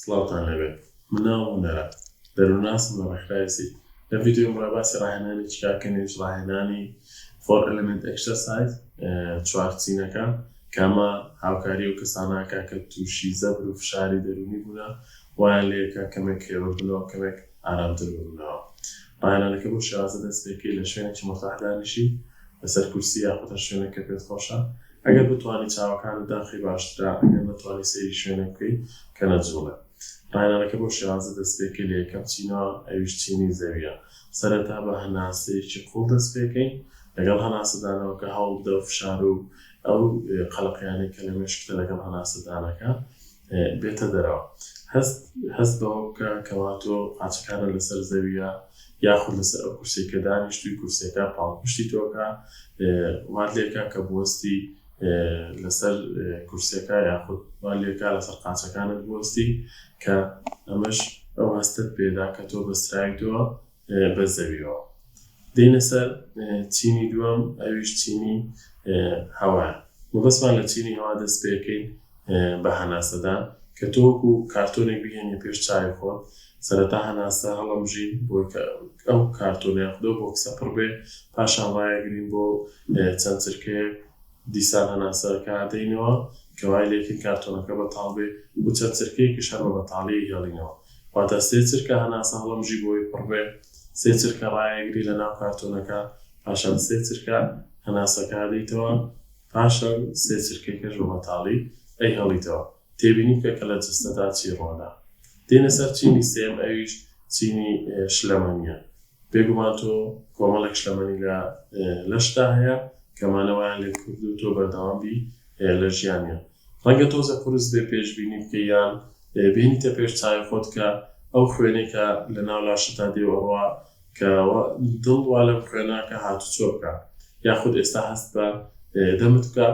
سڵاوتان لێبێت من ناوم هونەرە دەروناسم لە ڕێکخراوی سی لە ڤیدیۆی ئمڕۆ باسی ڕاهێنانی چیکار کەین یەویش ڕاهێنانی فۆر ئەلمنت ئەکسەرسایز چوار چینەکە کامە هاوکاری و کەساناکە کە تووشی زەبر و فشاری دەرونی بوونە وایان لێکە کەمێک کرێوە بنەوە کەمێک ئارامتر ببنەوە ڕاهێنانەکە بۆ شێوازە دەست پێکەی لە شوێنێکی مورتاح دانیشی لەسەر کورسی یاخود هەر شوێنێک کە پێت خۆشە ئەگەر بتوانی چاوەکانت داخەی باشترە ئەگەر نەتوانی سەیری شوێنێک بکەی کە نەجوڵێ ڕاهێنانەکە بەو شێوازە دەست پێکەی لە یەکەم چینەوە ئەویش چینی زەویە سەرەتا بە هەناسەیەکی قوڵ دەست پێکەی لەگەڵ هەناسەدانەوەکە هەوڵبدە فشارو ئەو قەلەقیانەی کە لە مێشکتە لەگەڵ هەناسەدانەکە بێتە دەرەوە. هەست هەست بەوە بکە کەوا تۆ قاچەکانت لەسەر زەوییە یاخود لەسەر ئەو کورسیەی کە دانیشتووی کورسیەکە پاڵپشتی تۆکە وات لێکە کە بوەستی لەسەر کورسەکە یاخود وات لێکە لەسەر قاچەکانت بوەستی کە ئەمەش ئەو هەستت پێدا کە تۆ بەستراویتەوە بە زەویەوە دێنە سەر چینی دووەم ئەویش چینی هەوایە مەبەستمان لە چینی هەوا دەست پێکەین بە هەناسەدان کە تۆکو کارتۆنێک بهێنی پێش چاوی خۆت سەرەتا هەناسە هەڵەمژین بۆ ئەو کارتۆنە یاخدەو بۆکسە پڕ بێ پاشان ڕایەگرین بۆ چەند چرکەیەک دیسان هەناسەکە ئەدەینەوە، کە وای لێکرد کارتۆنەکە بەتاڵ بێ و چەند چرکەیەکیش هەر بە بەتاڵی ئەیهێڵینەوە. واتە سێ چرکە هەناسە هەڵەمژی بۆی پڕ بێ، سێ چرکە ڕایەگری لە ناو کارتۆنەکە، پاشان سێ چرکە هەناسەکە ئەدەیتەوە، پاشان سێ چرکەیکەش بە بەتاڵی ئەیهێڵیتەوە. تێبینی بکە کە لە جەستەدا چی ڕووەدا. دێینە سەر چینی سێم، ئەویش چینی شلەمەنییە. بێگومان تۆ کۆمەڵێک شلەمەنی لە لەشتدا هەیە کە مانە وایان لێت کردووە تۆ بەردەوام بی لە ژیانیان. ڕەنگە تۆزێ قورس بێ پێشبینی بکەی یان بێنیتە پێش چاوی خۆت کە ئەو خوێنەی کە لە ناو لاشتدا دێ و ئەڕوا کە وە دڵ وا لەم خوێنە کە هاتوچۆ بکا یاخود ئێستا هەست بە دەمت بکا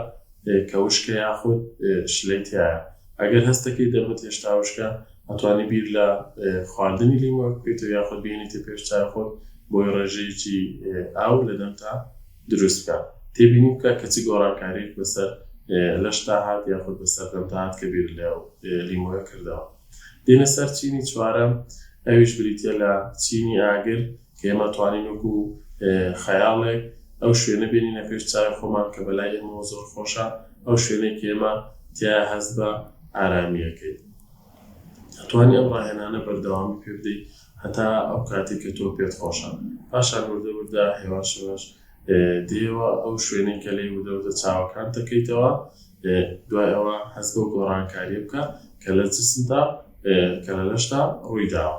کە وشکە یاخود شلەی تیایە ئەگەر هەست دەکەیت دەمت هێشتا وشکە ئەتوانی بیر لە خواردنی لیمۆ بکەیتەوە یاخود بهێنیتە پێش چای خۆت بۆی ڕێژەیەکی ئاو لە دەمتا دروست بکە تێبینی بکە کە چ گۆڕانکاریەک بەسەر لەشتا هات یاخود بەسەر دەمتا هات کە بیر لە لیمۆە کردەوە دێنە سەر چینی چوارەم ئەویش بریتە لە چینی ئاگر کە ئێمە توانین وەکو خەیاڵێک ئەو شوێنە بێنینە پێش چاوی خۆمان کە بەلای ئێمەوە زۆر خۆشە ئەو شوێنەی کە ئێمە تیا هەست بە ئارامیەکەی توانی ئەم ڕاهێنانە بەردەوامی پێ بدەیت هەتا ئەو کاتێک کە تۆ پێت خۆشە پاشان وردە وردە هێواشەوەش دێوە ئەو شوێنەی کە لێ وردە وردە چاوەکان دەکەیتەوە دوای ئەوە هەست بۆ گۆڕانکاری بکە کە لە جسمدا کە لە لەشدا ڕوویداوە